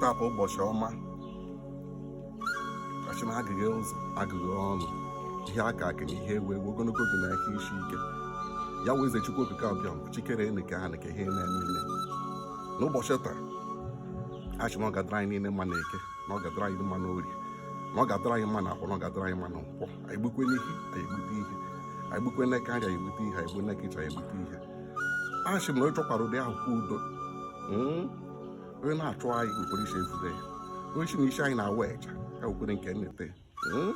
taa bụ ụbọchị ọma kachi na agịghị ụzọ agịghị ọnụ ihe aka aka na ihe ewu ewu ogologo oge na ahụ isi ike ya wee eze chukwu okike abịama bụ chi kere enu kee ana kee ihe na-eme ime n'ụbọchị taa asị na ọ ga-adịrị anyị niile mma na eke na ọ ga-adịrị anyị mma na orie na ọ ga-adịrị anyị mma na afọ na ọ ga-adịrị anyị mma na nkwọ anyị gbukwe n'ihu anyị egbute ihe anyị gbukwe n'aka nri anyị egbute ihe anyị gbuo n'aka ịcha anyị egbute ihe asị m na onye chọkwara udo ahụkwa udo hmm? onye na-achụ anyị nwekwara isi efufe ya onye sị na isi anyị na-awa eja ya nwekwere nke nnete hmm?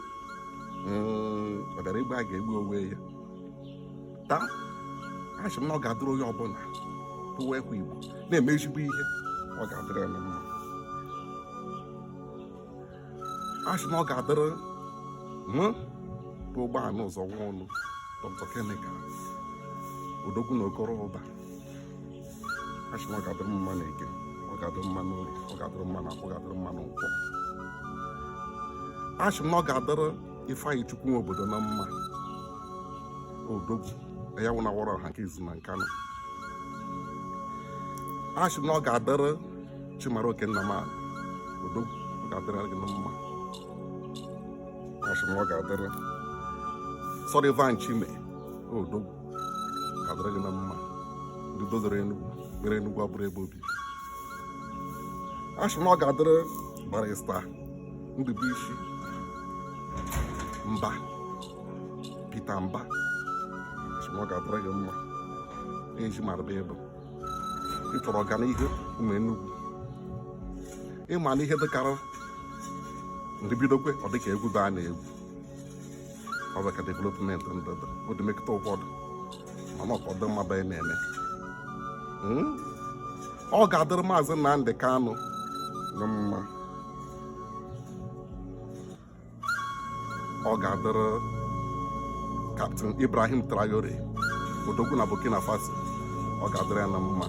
hmm, ọ bịara igbu a ga-egbu onwe ya taa asị m na ọ ga-adụrụ onye ọbụla bụ nwa afọ igbo na-eme ezigbo ihe ọ ga-adịrị ya na mma a sị na ọ ga-adịrị mụ bụ ụgbọala ụzọ nwa ọnụ dọkịta kemikal odogwu na okoroụba a sị na ọ ga-adịrị mma na eke ọ ga-adịrị mma na orie ọ ga-adịrị mma na afọ ọ ga-adịrị mma na nkwọ asị m na ọ ga-adịrị ifeanyịchukwu nwobodo na mma odogwu anyanwụ na-awara ọha nke izizi na nkanu asị m na ọ ga-adịrị chimaroke nnamani odogwu ọ ga-adịrị gị na mma asị m ọ ga-adịrị sullivan chime odogwu ga-adịrị gị na mma ndị dozere enugwu mere enugwu abụrụ ebe obibi asị m ọ ga-adịrị barrister ndubuisi mba peter mba asị m ọ ga-adịrị gị mma eji maraba ebe ị chọrọ ọganihu ụmụ Enugu ị ma na ihe dịkara ndị bidokwe ọ dịka egwu be a na-egwu ọ bụ ka development ndịda odimekịta ụfọdụ mana ụfọdụ mmadụ anyị na-eme hmm? ọ ga-adịrị mazi Nnamdi Kanu na mma ọ ga-adịrị captain ibrahim traore odogwu na burkina faso ọ ga-adịrị ya na mma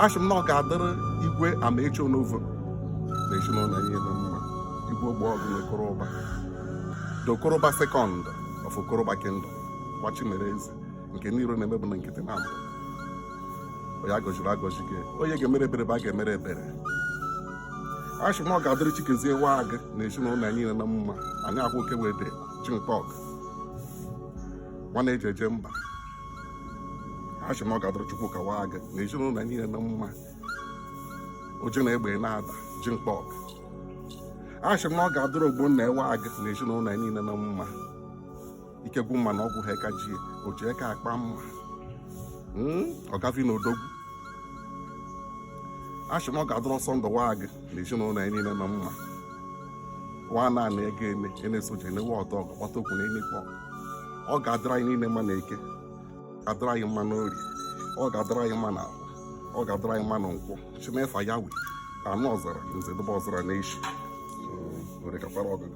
asị m na ọ ga-adịrị igwe amaechi onovo na ezinụlọ ya na mma igwe ogbuọgụ na okoroụba the okoroụba second of okoroụba kingdom nwa chi mere eze nke ndị iro na-eme bụ na nkịtị na mbụ onye a gọziri agọzi gị onye ga-emere ebere bụ a ga-emere ebere a sị na ọ ga-adịrị chikezie nwagị na ezinụlọ ya niile na mma anyị akwụ oke wee dị chintọk nwa a na-eji eje mba a sị na ọ ga-adịrị chukwuka nwagị na ezinụlọ ya niile na mma oji na egbe na-ada chintọk a sị na ọ ga-adịrị ogbonna nwagị na ezinụlọ ya niile na mma ike gwụ mma na ọgwụ ha eka ji o ji eka akpa mma hmm? ọ gavi na odogwu asị na ọ ga-adịrị ọsọ ndụ waa gị na ezinụlọ ya niile na mma waa naanị ego eme e na-esoje enewe ọdọ ọgụ kpata okwu na enekpọ ọ ga-adịrị anyị niile mma na eke ga-adịrị anyị mma na orie ọ ga-adịrị anyị mma na ahọ ọ ga-adịrị anyị mma na nkwọ chimefa ya wee anụ ọzara nze dụba ọzara na echi hmm, were kakwara ọgụgụ